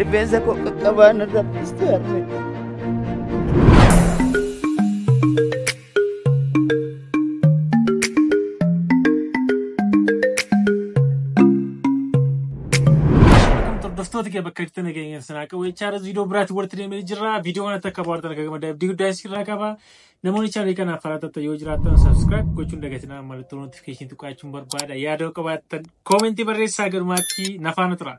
Rifeensa koo qaqqabaan irra dhiste harmee. Hordoftoota kee bakka jirtan nageenya sanaa qabu jechaa irratti viidiyoo biraatti walitti deemee jirra. Viidiyoo kanatti akka bohaartan akka gammaddan abdii guddaa isin irraa qaba. Namoonni chaanalii kanaaf haaraa taatan yoo jiraattan subscribe gochuun dagatinaa mallattoo notification tuqaachuun barbaada. Yaadoo qabaattan koomentii barreessaa galumaatti nafaana turaa.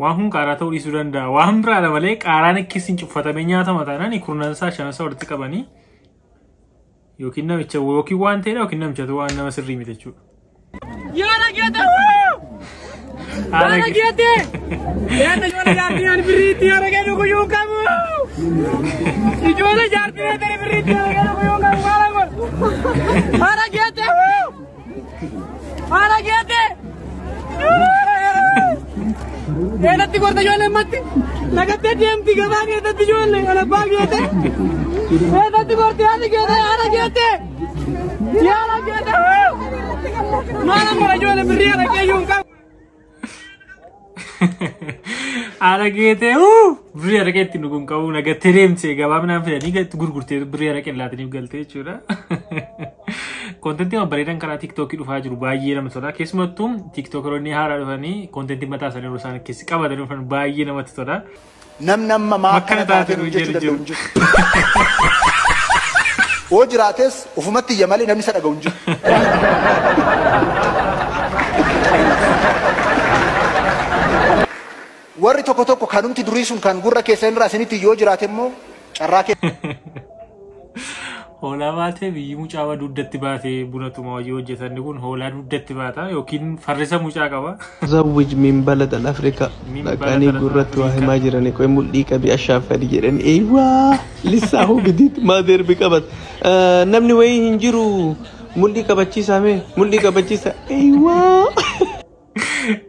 Waan kun qaaraa ta'uu dhiisuu danda'a. Waan biraadha malee qaaraan akkasiin cuffatamee nyaatama taanaan kurnan isaa shanan isaa walitti qabanii yookiin namicha yookiin waan ta'edha yookiin namichatu waan nama sirrii miti jechuudha. Yoona geete wuu! Haala Yoona geete! Yaadda ijoollee jaartii ani birriitti yoona geetu guyyuu qabu! Ijoollee jaartii ani birriitti yoona geetu guyyuu qabu maala godhu! Haala geete wuu! Haala geette! Eedatti gorta ijoollee matti nagattee deemti gabaa keessatti ijoollee kan abbaa geette. Eedatti gorti haati geette haala geette. Yaala geette. Maala mara ijoollee birrii araqee iyyuu hin qabu. Aragee ta'e huu birrii araqee itti nu kun qabu naga tereemse gabaabinaan fedhanii gatti gurgurtee birrii araqee laataniif galtee jechuudha. Kontentii amma bareedan karaa tiiktookii dhufaa jiru baay'ee namatti tola. Keessumattuu tiiktookeroonni haaraa dhufanii kontentii mataa isaanii yeroo isaan keessi qabatanii dhufan baay'ee namatti tola. Namni amma maa akkana taate nuun jechuu danda'u hin jiru. Yoo jiraates ofumatti iyya malee namni isa dhaga'u hin jiru. Warri tokko tokko kanumti durii sun kan gurra keessan irraa isinitti iyyu yoo jiraate immoo carraa kee Hoolaa baatee biyyi mucaa waa dugdatti baatee buna tuma hojii hojjetanni kun hoolaa dugdatti baata yookiin farrisa mucaa qaba. Zawwij min balad al Afrika Min balad dhaqanii al gurratti waa Afrika. himaa jirani qoy mul'ii qabi ashaaf fadi jedhani eywaa lissaa hoo bidiit maa deerbi qabat Eh, namni wayii hin jiru mul'ii qabachiisaa mee mul'ii qabachiisaa eywaa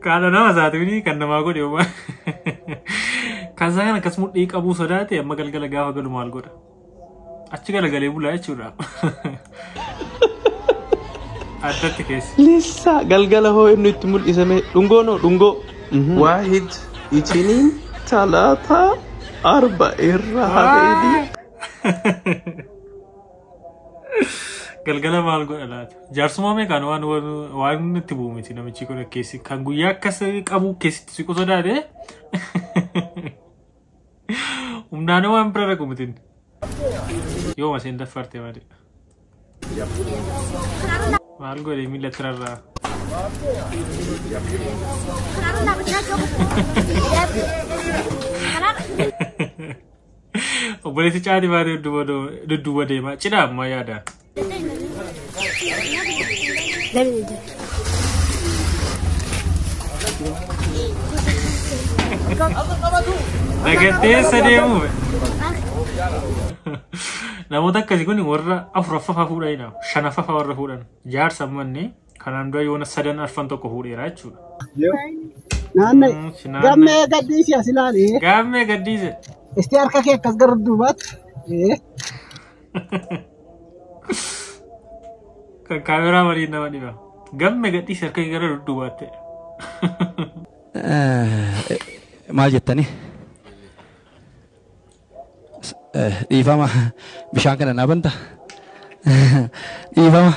Kaadha nama isaatiif kan namaa godhe homaa. Kan isaa kan akkas mudhii qabuu sodaate amma galgala gaafa galu maal godha? Achi galagalee bulaa jechuudha. Addatti keessa. Lissa galgala hoo inni itti mul'isame dhungoo noo dhungoo. Waahid itiniin talaataa arba irra habeedii. Galgala maal godha laata? Jaarsummaa meeqaan waan waan nutti bu'u miti namichi kun keessi kan guyyaa akkas qabu keessatti siqu sodaate. Humnaan waan bira dhaqu miti. Yoo maseen daffarte malee. Maal godhe miila tirarraa? Kanaaf Obboleessi caati baatee dudduuba deema. Cidha ammaa yaada. Nagatteessa deemu. Namoota akkasii kun warra afuraffafa fuudhanidha. Shanaffafa warra fuudhan. Jaarsa ammanne Kanaan dura yoona sadan arfan tokko fuudheera jechuudha. Naanna Mm, si naanna- gammee gaddiisi as ilaali. Gaammee gaddiise. Isti harka kee akkas gara duubaatti. Eh, Kan kaameraa waliin nama dhiba. Gamme gadhiis harka kee gara dudduubaatte. maal jettanii Dhiifama bishaan kana naa banta. Dhiifama.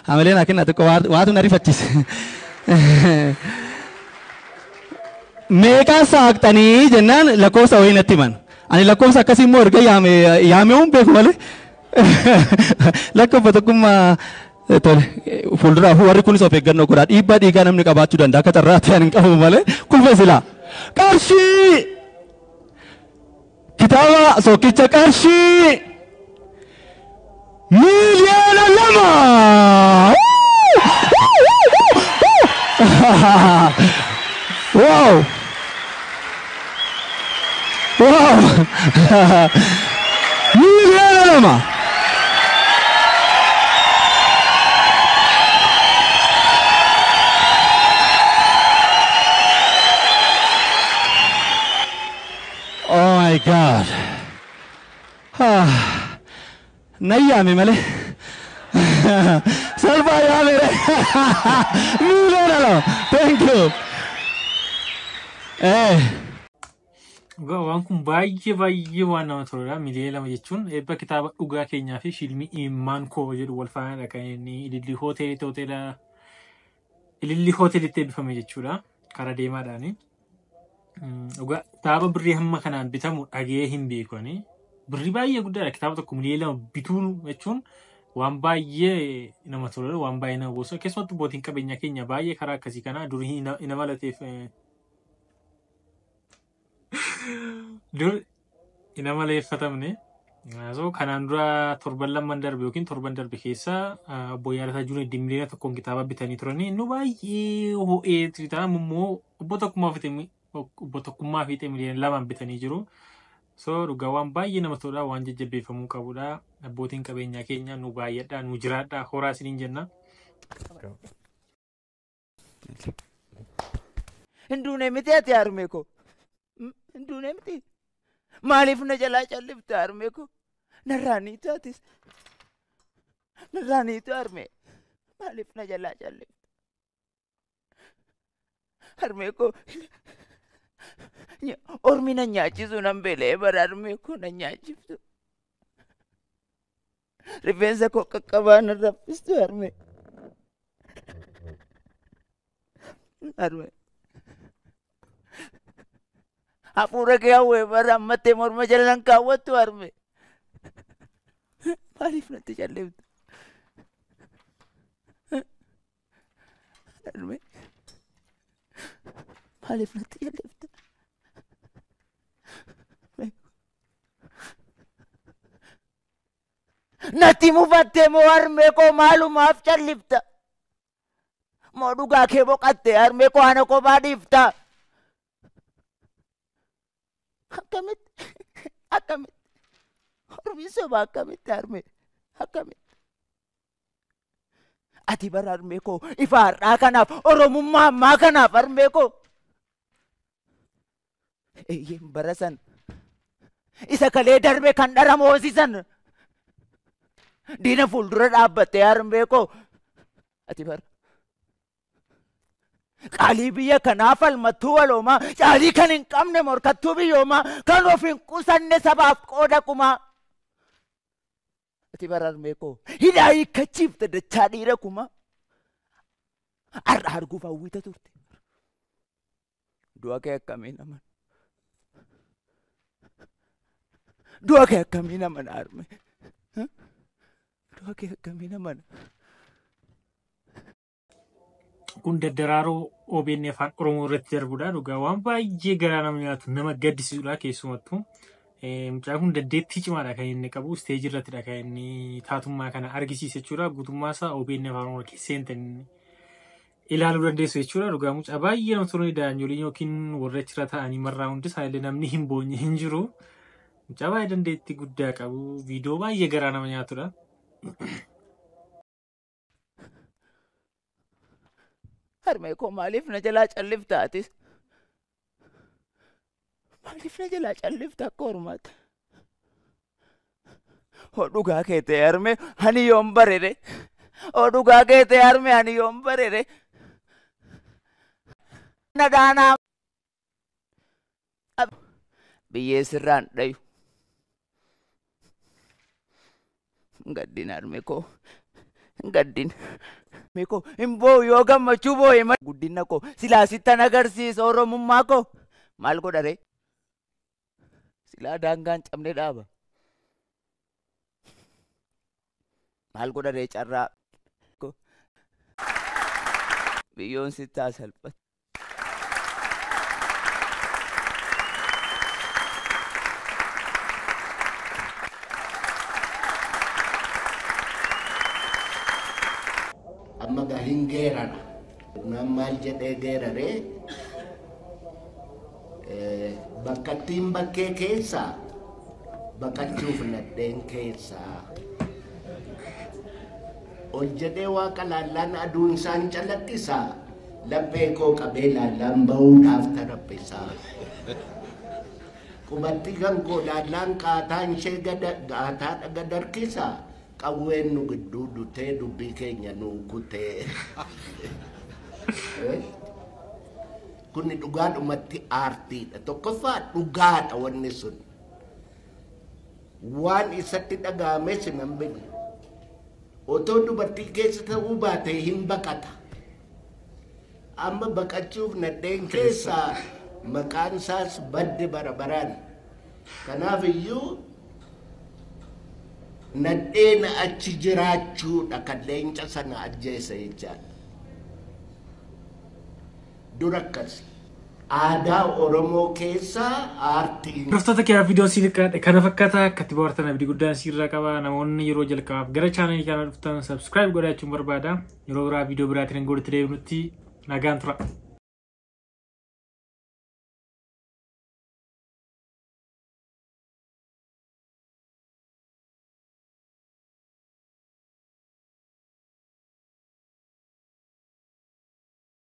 Hamilee naa kennaa xiqqoo waa- waatu na rifachiise. Meeqaan saaqxanii jennaan lakkoofsa wayii natti himan. Ani lakkoofsa akkasii immoo erga yaame yaamee hin beeku malee. Lakkoofsa tokkummaa eh, tole eh, fuulduraaf warri kunis of eeggannoo godhaa dhiibbaa dhiigaa namni qabaachuu danda'a akka carraatti ani hin qabu malee kufe silaa. Qarshii Kitaaba sookicha qarshii miiliyoona lama. Wow! Wow! miiliyoona lama. Oh my God. Ah, nan yaame malee. Salphaa yaame re. Miiliyoona lama. Thank you. Eh, Dhugaa waan kun baay'ee baay'ee waan nama toludha. Miliyoona lama jechuun eebba kitaaba dhugaa keenyaa fi fiilmii imimmaan koo jedhu wal faana dhaqanii ilillii hoteelii hoteela Ilillii hootelitti eebbifame jechuudha. Karaa deemaadhaani. Mm, Dhugaa kitaaba birrii hamma kanaan bitamu dhaga'ee hin beeku ani. Birrii baay'ee guddaadha. Kitaaba tokko miliyoona lama bituun jechuun waan baay'ee nama tola, waan baay'ee nama boonsa. Keessumattuu abbootiin qabeenyaa keenya baay'ee karaa akkasii kana durii hin hin amalateef eh, Dur hin amaleeffatamne. So kanaan dura torban lamman darbe yookiin torban darbe keessa obbo Yaadataa Juuneeddii miliyoona tokkoon kitaaba bitanii turanii nu baay'ee ho'ee kitaaba immoo obbo Tokkummaa fite obbo Tokkummaa fiixee miliyoona lamaan bitanii jiru. So dhugaa waan baay'ee nama toludha waan jajjabeeffamuu qabudha. Abbootiin qabeenyaa keenya nu baay'adhaa nu jiraadhaa horaa isiniin jenna. Hin duune miti ati harmee koo. Hin duune miti. Maaliif na jalaa callifte harmee koo? Narraa ni taatis. Narraa ni tu harmee. Maaliif na jalaa callifte? Harmee koo. Ormi na nyaachisu nan beela'ee bara harmee koo na nyaachiftu. Rifeensa koo qaqqabaa na raffistu harme. Harme. Hafuura kee hawwee bara ammattee morma jala nan kaawwattu harme. Maaliif natti calleeftu? Harme. Maaliif natti calleeftu? Natti mufattee moo harmee koo maalumaaf callifta? Moo dhugaa kee boqattee harmee koo ana kophaa dhiifta? Akkamitti? Akkamitti? Hormii soba akkamitti harmee? Akkamitti? Ati bara harmee koo ifa har'aa kanaaf oromummaa ammaa kanaaf harmee koo Eeyyeen bara san isa kalee darbe kan dhara moosisan diina fuuldura dhaabbatte harmee koo ati bara qaalii biyya kanaa falmattuu waloomaa caalii kan hin qabne morkattuu biyyoomaa kan of hin qusanne sabaaf qooda kumaa Ati bararmee koo hidhaa hiikkachiifte dachaa dhiira kumaa. Har'a arguuf hawwita turte. Du'a kee akkamiin aman? Du'a kee akkamiin aman harmee? Du'a kee akkamiin aman? kun daddaraaroo OBN afaan Oromoo irratti darbudha dhugaa waan baay'ee garaa nama nyaatu nama gaddisiisudha keessumattuu. Eh, Mucaan kun dandeettii cimaadha kan inni qabu isteejii irrattidha kan inni taatummaa kana argisiise jechuudha guutummaa isaa OBN afaan Oromoo keessa seente inni ilaaluu dandeessu jechuudha dhugaa mucaa baay'ee namatti tolanii daa'imyoliin yookiin warri achirra taa'anii marraa hundi isaaniillee namni hin boonye hin jiru mucaa baay'ee dandeettii guddaa qabu viidiyoo baay'ee garaa nama nyaatudha. Harmee koo maaliif na jalaa callifta atis? Maaliif na jalaa callifta akka hormaata? Hoo dhugaa kee ta'e harmee ani yoon barere. Hoo dhugaa kee ta'e harmee ani yoon barere. Na dhaanaa biyyee sirraan dhayu gaddin harme koo gaddin harme koo hin boo'u yoo gammachuu boo'e malee guddina koo silaa sittan agarsiisa oromummaa koo maal godha ree silaa daangaan cabne dhaaba maal godha ree carraa koo biyyoon sittaa salphatu. amma gaa hin geerara naan maal jedhee geeraree eh, bakkattiin bakkee keessa baqachuuf nadheen keessa ol jedhee waaqa laallaan aduun isaan calaqqisa Laphee koo qabee laallaan ba'uu naaf taraphisaa. Qubatti kan koo laallaan qaataan ishee gada gaataadha gad harkisa. Qawween nu gidduu dutee dubbii keenya nuu kutee. Kuni dhugaadhumatti aartiidha. Tokkoffaa dhugaadha wanni sun. Waan isatti dhaga'ames hin hambifne. Otoo dubartiin keessa ta'uu baatee hin baqata. Amma baqachuuf nadheen keessaa maqaan isaas badde bara baraan. Kanaaf iyyuu nadheen achi jiraachuudha kan leenca sana ajjeese jechaadha. Dur akkasi. Aadaa Oromoo keessa aartiin. Hordoftoota kiyyaa viidiyoon siif kadhadhe kana fakkaata akkatti bohaartan abdii guddaan siirraa qaba namoonni yeroo jalqabaaf gara chaanalii kana dhuftan subscribe godhachuun barbaada yeroo biraa viidiyoo biraatiin hin godhutti deebinutti nagaan tura.